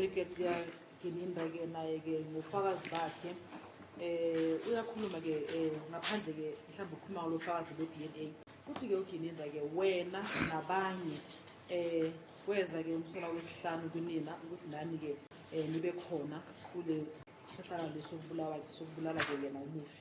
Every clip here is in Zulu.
ubrigadier gininda-ke naye-ke ngofakazi bakhe eh uyakhuluma ke eh, ngaphandle ke mhlawumbe ukhuluma ngalo fakazi be DNA uthi ke uGininda ke wena nabanye eh kweza ke umsola wesihlanu kunina ukuthi nani ke eh, nibe khona kule sehlakalo sokubulawa sokubulala ke yena umufi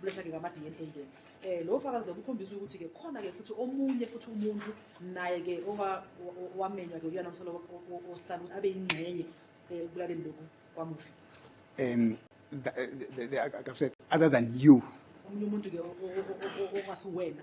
kulethake ngama-DNA ke eh lo fakazi lo ukhombisa ukuthi ke khona ke futhi omunye futhi umuntu naye ke owamenywa ke uyena umsolo osihlanu ukuthi abe yingxenye eh, ekulaleni lokhu kwamufi um other than you omunye umuntu ke ongasiwena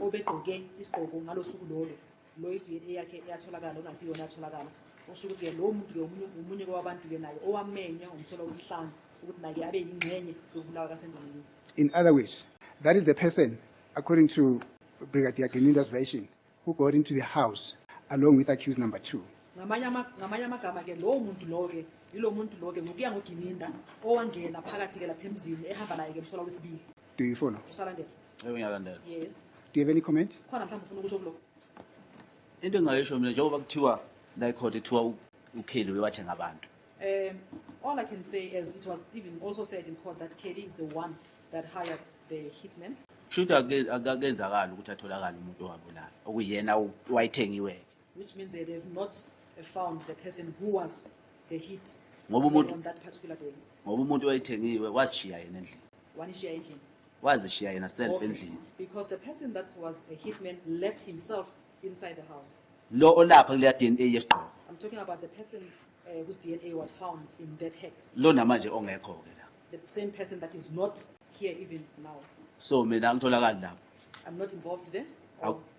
obegqoke isigqoko ngalosuku lolo lo iDNA yakhe eyatholakala ongasiyona yatholakala usho ukuthi ke lo muntu ke umunye umunye kwabantu ke naye owamenya umsola wesihlanu ukuthi naye abe yingxenye yokubulawa kaSendonini in other words that is the person according to Brigadier Geninda's version who got into the house along with accused number 2 ngamanye ngamanye amagama ke lo muntu lo ke yilo muntu lo ke ngokuya ngoGininda owangena phakathi ke lapha emzini ehamba naye ke msola wesibili Do you follow? Usalandela. Yebo ngiyalandela. Yes. Do you have any comment? Khona mhlawumbe ufuna ukusho kuloko. Into engayisho mina njengoba kuthiwa la court ethiwa uKelly wewathi ngabantu. Um all I can say is it was even also said in court that Kelly is the one that hired the hitman. Shuthi akenzakala ukuthi atholakala umuntu owabulala okuyena wayithengiwe. which means they have not found the person who was the hit ngoba umuntu on that particular day ngoba umuntu wayithengiwe wasishiya yena endlini wanishiya endlini wazishiya yena self okay. endlini because the person that was a hitman left himself inside the house lo olapha kuleya DNA yesigqoko i'm talking about the person uh, whose DNA was found in that hat lo namanje ongekho ke la the same person that is not here even now so mina angitholakali lapho i'm not involved there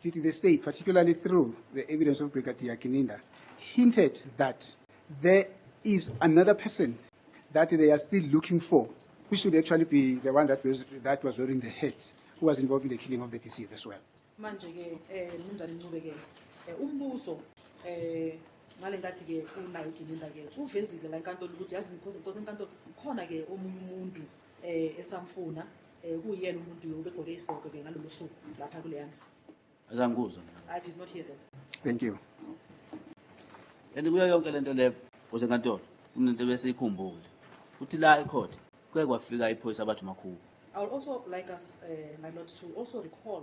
Did the state, particularly through the evidence of Brigadier Kininda, hinted that there is another person that they are still looking for, who should actually be the one that was, that was wearing the hat, who was involved in the killing of the deceased as well? manje ke eh mnumzane Ncube ke eh, umbuso eh ngale ngathi ke unayo Gininda ke uvezile la enkantolo ukuthi yazi inkosi inkosi enkantolo khona ke omunye umuntu eh esamfuna eh kuyena umuntu yo begqoke isigqoko ke ngalolu suku lapha kuleyana azangikuzwa i did not hear that thank you and kuyo yonke lento le kuze nkantolo kunento bese ikhumbule uthi la ecourt kuye kwafika iphoyisa abathi makhulu i would also like us uh, my lord to also recall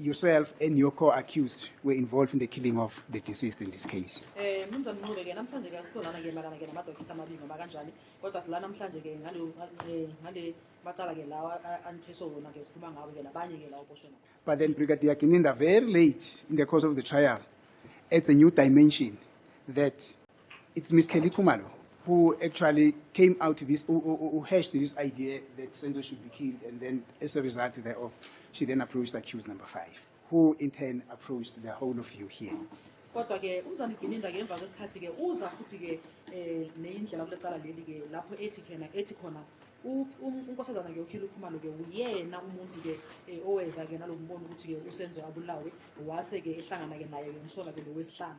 yourself and your co-accused were involved in the killing of the deceased in this case. Eh mnumzane Ncube ke namhlanje ke asikho lana ke malana ke namadokithi amabili noma kanjani kodwa silana namhlanje ke ngale eh, ngale macala ke lawa anipheso wona ke siphuma ngawo ke nabanye ke lawo boshwe nabo. But then Brigadier Gininda very late in the course of the trial at the new dimension that It's Miss Kelly Kumalo who actually came out to this, who, who, who hashed this idea that Senzo should be killed, and then as a result thereof, she then approached accused number five, who in turn approached the whole of you here. kodwa ke umzana igininda ke emva kwesikhathi ke uza futhi ke eh neyindlela kulecala leli ke lapho ethi khena ethi khona u- um- unkosazana ke ukhile ukhumalo ke uyena umuntu ke eh, oweza ke nalombono ukuthi ke usenzo abulawe wase ke ehlangana ke naye ke umsola ke lowesihlanu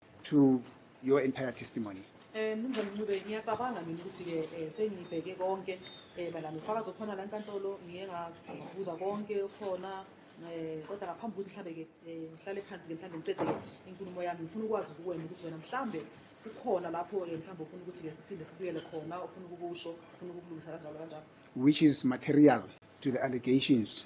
to your entire testimony Eh mnumzane Mncube ngiyacabanga mina ukuthi ke eh, sengibheke konke eh bala nofakazi okhona la enkantolo ngiye ngabuza konke khona eh kodwa ngaphambi ukuthi mhlambe ke eh, ngihlale phansi ke mhlambe ngicede ke inkulumo yami ngifuna ukwazi kuwena ukuthi wena mhlambe kukhona lapho ke eh, mhlambe ufuna ukuthi ke siphinde sibuyele khona ufuna ukukusho ufuna ukulungisa kanjalo kanjalo which is material to the allegations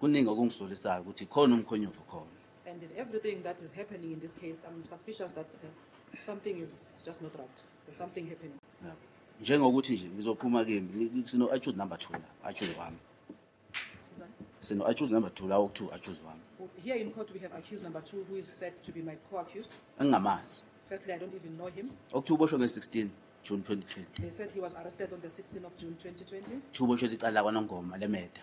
Kuningi okungizolisayo ukuthi khona umkhonyovu khona. And in everything that is happening in this case, I'm suspicious that uh, something is just not right. There's something happening. Yeah. Njengokuthi nje ngizophuma kimi sino I choose number 2 la, I choose wami. Sino I choose number 2 la oku2 I choose wami. Here in court we have accused number 2 who is said to be my co-accused. Angamazi. Firstly I don't even know him. Oku2 boshwe nge-16. June 2020. They said he was arrested on the 16th of June 2020. Thubo shwe licala kwanongoma lemeda.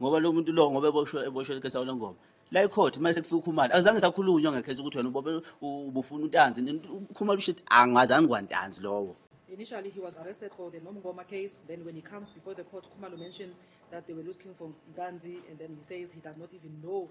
ngoba lo muntu lo ngoba eboshwe eboshwe ikhesi lawo lengoma la icourt uma sekufika ukhumalo akuzange sakhulunywa ngekhesi ukuthi wena ubobe ubufuna untanzi ukhumalo usho ukuthi angazange kwantanzi lowo Initially, he was arrested for the Nomgoma case. Then, when he comes before the court, Kumalo mentioned that they were looking for Nganzi, and then he says he does not even know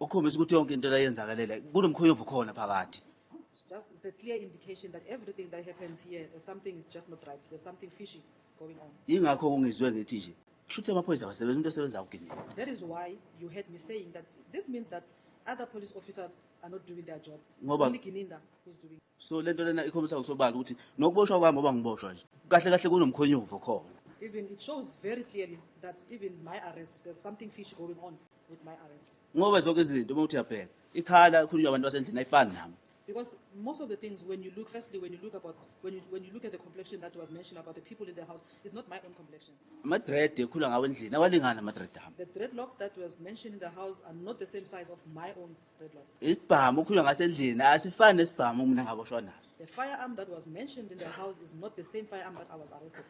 ukhombisa ukuthi yonke into layenzakalela kunomkhonyovu khona phakathi just it's a clear indication that everything that happens here there's something is just not right there's something fishy going on yingakho kungizwe ngithi nje kusho ukuthi amaphoyisa abasebenza umuntu osebenza kugini that is why you heard me saying that this means that other police officers are not doing their job ngoba so lento lena ikhombisa ngosobala ukuthi nokuboshwa kwami ngoba ngiboshwa nje kahle kahle kunomkhonyovu khona even it shows very clearly that even my arrest there's something fish going on with my arrest ngoba zonke izinto uma uthi uyabheka ikhala khulunywa abantu basendlini ayifani nami Because most of the things, when you look, firstly, when you look about, when you, when you look at the complexion that was mentioned about the people in the house, it's not my own complexion. amadred ekhula ngawo endlini awalingani amadred ami The dreadlocks that was mentioned in the house are not the same size of my own isibhamu okhulunywa ngaso endlini asifani nesibhamu mina ngaboshwa naso The firearm that was mentioned in the house is not the same firearm that I was arrested.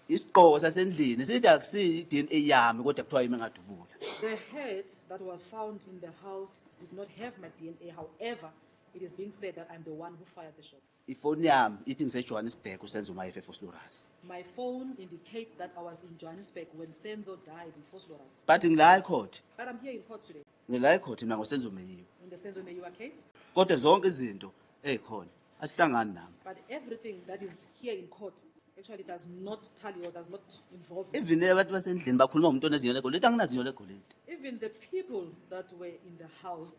isigqoko sasendlini sithi akusiyi i-dna yami kodwa kuthiwa yimi engadubula The hat that was found in the house did not have my DNA. However, it is being said that I'm the one who fired the shot. Ifoni yami ithi ngiseJohannesburg uSenzo uma efe eFoslorus. My phone indicates that I was in Johannesburg when Senzo died in Foslorus. But ngila ecourt. But I'm here in court today. Ngila ecourt mina ngoSenzo Meyiwa. In the Senzo Meyiwa case. Kodwa zonke izinto ezikhona asihlangani nami. But everything that is here in court actually does not tally or does not involve me. Even abantu basendlini bakhuluma ngomuntu onezinyo legolide anginazinyo legolide. Even the people that were in the house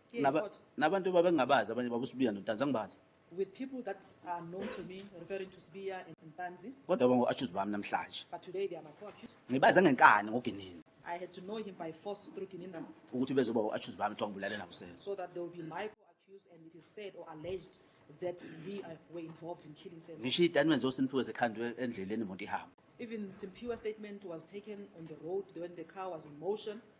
Naba, nabantu babengabazi abanye babusibiya notanzi angibazi with people that are known to me, referring to Sbiya and Ntanzi. kodwa bangu-atshuzi bami namhlanje But today they are my co-accused. ngibaze ngenkani ngoginini I had to know him by force through Gininda ukuthi bezoba u-atshuzi bami kuthiwa ngibulale nabusezwe so that there will be my co-accused and it is said or alleged that we are, were involved in killing Senzo. ngisho itatimende zosinipiwe zekhandwe endleleni imoto ihamba Even Simpiwa's statement was taken on the road when the car was in motion.